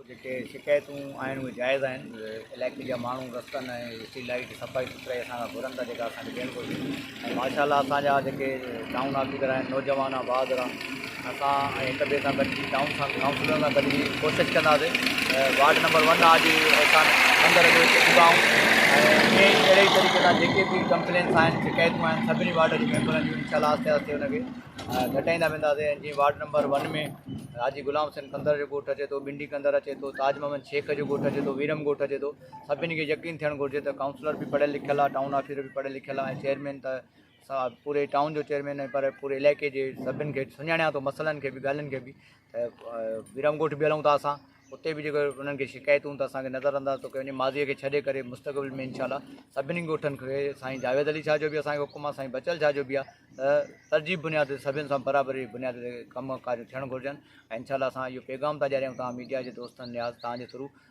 جيڪي شڪايتون آهن اهي جائز آهن علائقي جا ماڻهو رستن ۽ اسٽريٽ لائيٽ جي صفائي سٿرائي اسان کان گهرن ٿا جيڪا اسان کي ڏيڻ گهرجي ۽ ماشا الله اسان جا جيڪي ٽائون آفيسر آهن نوجوان آهن بهادر آهن اسان ۽ هڪ ٻئي سان گڏجي ٽائون سان ڪائونسلرن سان گڏجي ڪوشش ڪنداسي وارڊ نمبر ون آ جي احسان اندر اچي چڪا آهيون ۽ اهڙي ئي طريقي سان جيڪي به ڪمپلينس آهن شڪايتون آهن سڀني وارڊ جي ميمبرن جون انشاء الله آهستي آهستي ان کي گهٽائيندا وينداسين ۽ جيئن ward number one ۾ Haji Ghulam Hussain Kandhar جو ڳوٺ اچي ٿو بنڊي ڪنڌر اچي ٿو تاج محمد شيخ جو ڳوٺ اچي ٿو ويرم ڳوٺ اچي ٿو سڀني کي يقين ٿيڻ گهرجي ته ڪائونسلر به پڙهيل لکيل آهي ٽائون آفيسر به پڙهيل لکيل آهي چيئرمين ته پوري ٽائون جو چيئرمين آهي پر پوري علائقي جي سڀني کي سڃاڻان ٿو مسئلن کي بي ڳالهين کي بي ويرام ڳوٺ به هلون ٿا اسان اتي به جيڪو انهن کي شڪايتون ته اصانکي نظر انداز ٿو ڪيو وڃي ماضي کي ڇڏي ڪري مستقبل ۾ انشاء الله سڀني ڳوٺن کي سائين جاويد علي شاهه جو به اسانکي حڪم سائين بچل شاهه جو به آهي ترجيح بنياد تي سڀني سان برابري بنياد تي ڪم ڪاريون ٿيڻ گهرجن انشاء الله اسان اهو پيغام ٿا ڏياريون تمام ميڊيا جي دوستن نياز تهانجي ٿرو